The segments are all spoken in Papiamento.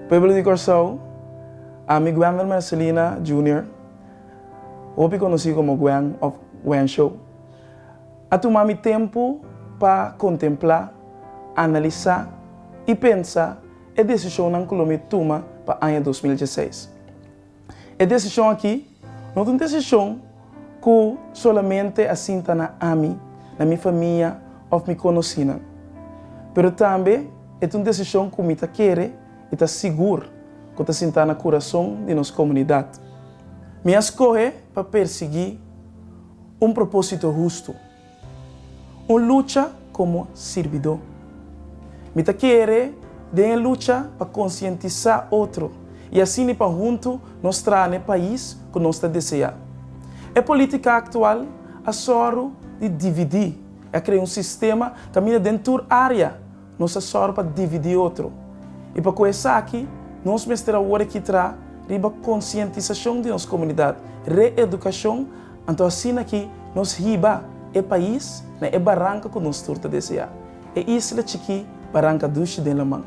Pueblo di Kòrsou, Ami Gwenlor Mercelina Junior, hopi konosí komo Gwen òf Wensho, a tuma mi tempu pa kontemplá, analisá i pensa e desishonnan ku lo mi tuma pa aña dos mil dieseis. E desishon akí no ta un desishon ku solamente a sinta na ami, na mi famia òf mi konosínan, pero tambe e ta un desishon ku mi ta kere i ta sigur ku ta sinta na kurason di nos komunidat. Mi a skohe pa persiguí un propósito hustu. Un lucha komo sirbidó. Mi ta kere den e lucha pa konsientisá otro i asini pa huntu nos traha na e pais ku nos ta deseá. E polítika aktual a sòru di dividí i a krea un sistema kaminda den tur área, Nos a sòru pa dividí otro. I pa ku esaki, nos mester awor e kitrá riba konsientisashon di nos komunidat, re-edukashon, anto asina ki nos hiba e pais na e baranka ku nos tur ta deseá, e isla chikí Baranka Dushi den laman.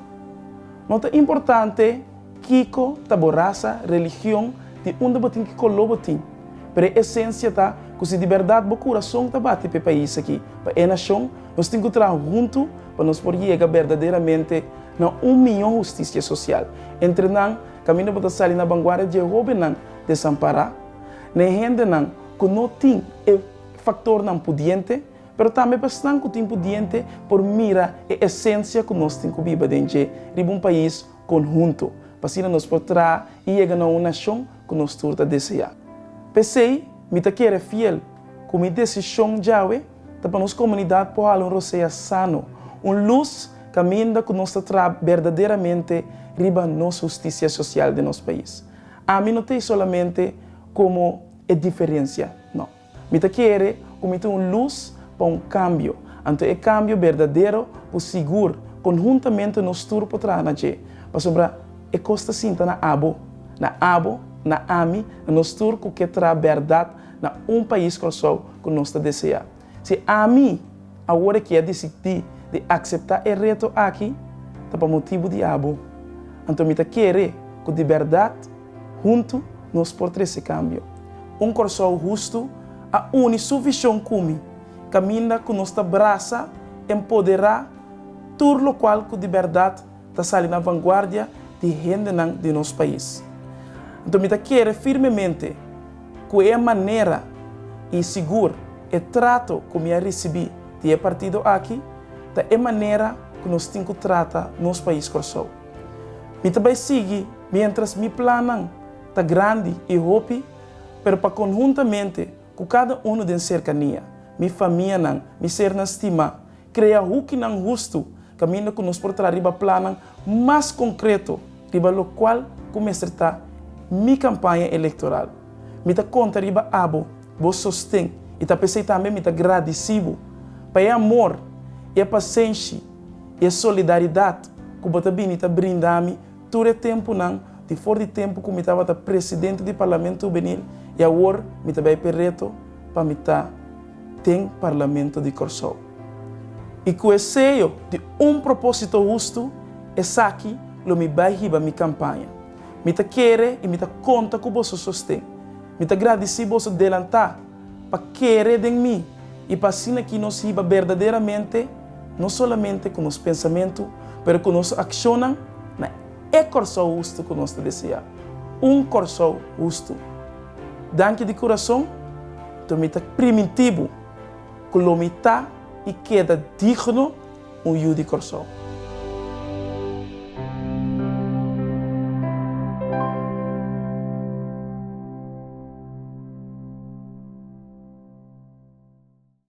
No ta importante. Kiko ta bo rasa, religion, di unda bo tin ki color bo tin. Pero e esencia ta cu si di berdad bo curason ta bati pa e pais aki, pa e nacion, nos tin cu traha hunto pa nos por yega berdaderamente na un mijo husticia social. Entre nan, caminda bo ta sali na banguardia di e hobennan desampara, na e hendenan cu no tin e factornan pudiente, pero tambe pa esnan cu tin pudiente por mira e esencia cu nos tin cu biba den dje riba un pais, konhuntu, pa asina nos por traha i yega na un nashon ku nos tur ta deseá. P'esei, mi ta kere fiel ku mi desishon djawe ta pa nos komunidat por hala un rosea sano, un lus kaminda ku nos ta traha berdaderamente riba nos hustisia sosial den nos pais. Ami no ta ei solamente komo e diferensia, nò. Mi ta kere ku mi ta un lus pa un kambio, anto e kambio berdadero ku sigur konhuntamente nos tur por traha na dje, pasobra e kos ta sinta na abo, na abo, na ami, na nos tur ku ke traha bèrdat na un pais Kòrsou ku nos ta deseá. Si ami awor e kia disidí di akseptá e reto aki ta pa motibu di abo, anto mi ta kere ku di bèrdat, Huntu nos por trece cambio. Un Corsou hustu a uni su vision cu mi, caminda cu nos ta brasa, empodera tur locual cu di berdad ta sali na vanguardia di hendenan di nos pais. Anto mi ta kere firmemente cu e manera y sigur e trato cu mi a ricibi di e partido aki ta e manera cu nos tin cu trata nos pais Corsou. Mi ta bay sigui Mientras mi plannan ta grandi i hopi, pero pa conhuntamente cu cada uno den cercania, mi famianan, mi sernan stima, crea hukinan hustu caminda cu nos por traha riba plannan mas concreto riba locual cu mester ta mi campaña electoral. Mi ta conta riba abo bo sosten i ta pesey tambe mi ta gradicibo pa e amor, e pacenshi i e solidaridad cu bo ta bini ta brinda mi Tur e tempunan, di for di tempu ku mi tabata presidente di Parlamento Hubenil i awor mi ta bai p'e reto pa mi ta den Parlamento di Kòrsou. I ku e seyo di un propósito hustu, esaki lo mi bai hiba mi kampaña. Mi ta kere i mi ta konta ku boso sosten. Mi ta gradisí boso delantá. pa kere den mi, i pa asina ki nos hiba berdaderamente no solamente ku nos pensamentu, pero ku nos akshonnan na e kòrsou hustu ku nos ta deseá, un kòrsou hustu. Danki di kurason, to mi ta primintibu ku lo mi ta i keda digno. un yu di Kòrsou.